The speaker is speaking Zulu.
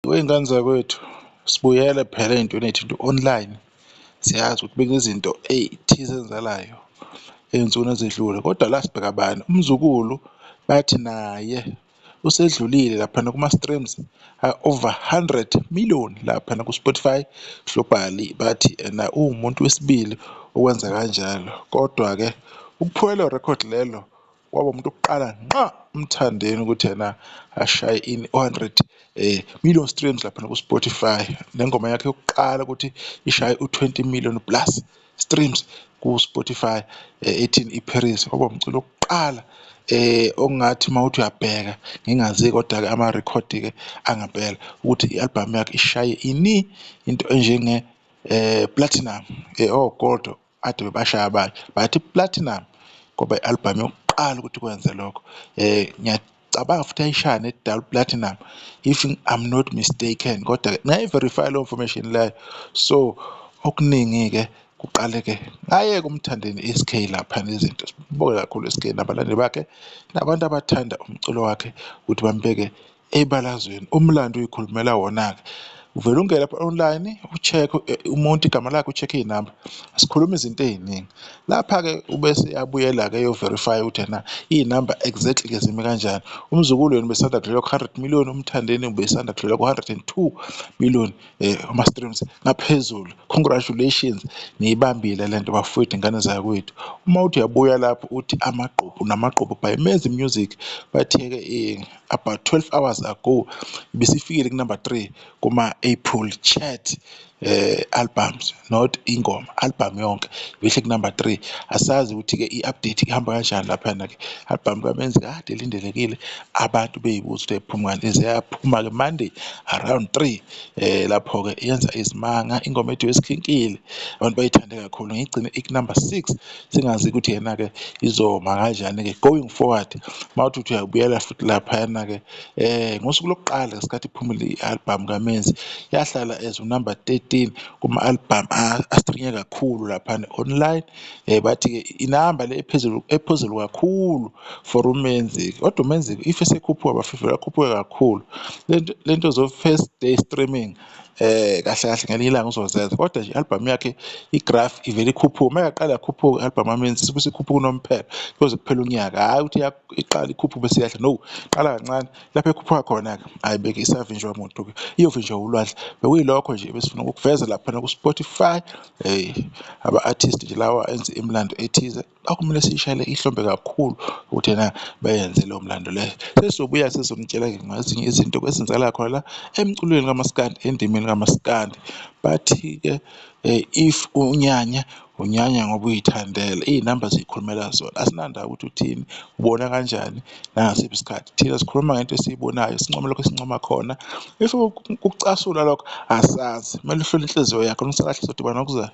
Wey'ngane zakwethu sibuyele phela ey'ntweni ey'thinta u-online siyazi ukuthi bekunezinto ey'thize ezenzakalayo ey'nsukwini ezedlule kodwa la sibheka bani umzukulu bathi naye usedlulile laphana kuma-streams over hundred million laphana ku-Spotify globally bathi ena uwumuntu wesibili owenza kanjalo. Kodwa-ke ukuphula lelo rekhodi lelo. kwaba umuntu oqala nqa umthandeni ukuthi yena ashaye in 100 eh million streams lapha ku Spotify nengoma yakhe yokuqala ukuthi ishaye u20 million plus streams ku Spotify eh, ethi iParis kwaba umculo oqala eh ongathi mawuthi uyabheka ngingazi kodwa ke ama record ke angempela ukuthi ialbum yakhe ishaye ini into enjenge eh platinum eh oh gold Ade bebashaya abanye but iPlatinum kwaba i-albhamu yokuqala ukuthi kwenze lokho um ngiyacabanga futhi ayishaya ne-double platinum if I'm not mistaken kodwa-ke ngayi-verify-a leyo information leyo so okuningi-ke kuqaleke ngayeke umthandeni i-SK lapha nezinto sibuke kakhulu i-SK nabalandeli bakhe nabantu abathanda umculo wakhe ukuthi bambeke ebalazweni umlando uyikhulumela wona-ke uvele ungene lapha online ucheck eh, umuntu igama lakhe ucheck iy'namba sikhuluma izinto ey'ningi lapha-ke ubese yabuyela-ke yoverify ukuthi na iy'namba exactly ke zimi kanjani umzukulu yena ubesanda kudlula ku-hundred million umthandeni ubesanda kudlula ku-hundred and two million um ama-streams ngaphezulu congratulations niyibambile le nto bafowethu ingane zakwethu uma uthi uyabuya lapho uthi amagqobo namagqobo by mezi music bathe-ke um eh, about 12 hours ago ibisifikile ku number 3 kuma April chat eh albums not ingoma album yonke ibihle ku number 3 asazi ukuthi ke iupdate ihamba kanjani lapha na ke album kamenzi kade lindelekile abantu beyibuza ukuthi iphuma kanjani iseyaphuma ke Monday around 3 eh lapho ke yenza izimanga ingoma ethu yesikhinkile abantu bayithande kakhulu ngigcine ik number 6 singazi ukuthi yena-ke izoma kanjani-ke going forward uma uthi uthi uyabuyela futhi laphayana-ke um ngosuku lokuqala ngesikhathi iphumile i-albhamu kamenzi yahlala as unumber 13 kuma-albhamu astrinye kakhulu laphana online um bathi-ke inamba le ephezulu ephezulu kakhulu for umenzi kodwa umenzi if esekhuphuka bafifela akhuphuke kakhulu le nto zofirst day streaming eh kahle kahle ngelinye ilanga uzozenza kodwa nje album yakhe igraph ivele ikhuphuka uma yaqala yakhuphuka album amenzi sibe sikhuphuka unomphela kuze kuphela unyaka hayi ukuthi iqala ikhuphuka bese yahla no qala kancane lapho ekhuphuka khona ke hayi beke isavinjwa umuntu ke iyovinjwa ulwandle bekuyilokho nje besifuna ukuveza lapha ku Spotify hey aba artist nje lawa enze imlando ethize Kwakumele siyishayele ihlombe kakhulu ukuthi ena bayenze lowo mlando le. Sesobuya sizonitshela-ke ngezinye izinto kwezenzakala khona la emculweni kamaskandi, endimeni kamaskandi. Bathi-ke if unyanya, unyanya ngoba uyithandela, iy'namba ziy'khulumela zona. Asinandaba ukuthi uthini, ubona kanjani, nangasiphi isikhathi. Thina sikhuluma ngento esiyibonayo, sincome lokho esincoma khona. If ukucasula lokho asazi, kumele uhlole inhliziyo yakho, uma isikahle sodibana ngokuzayo.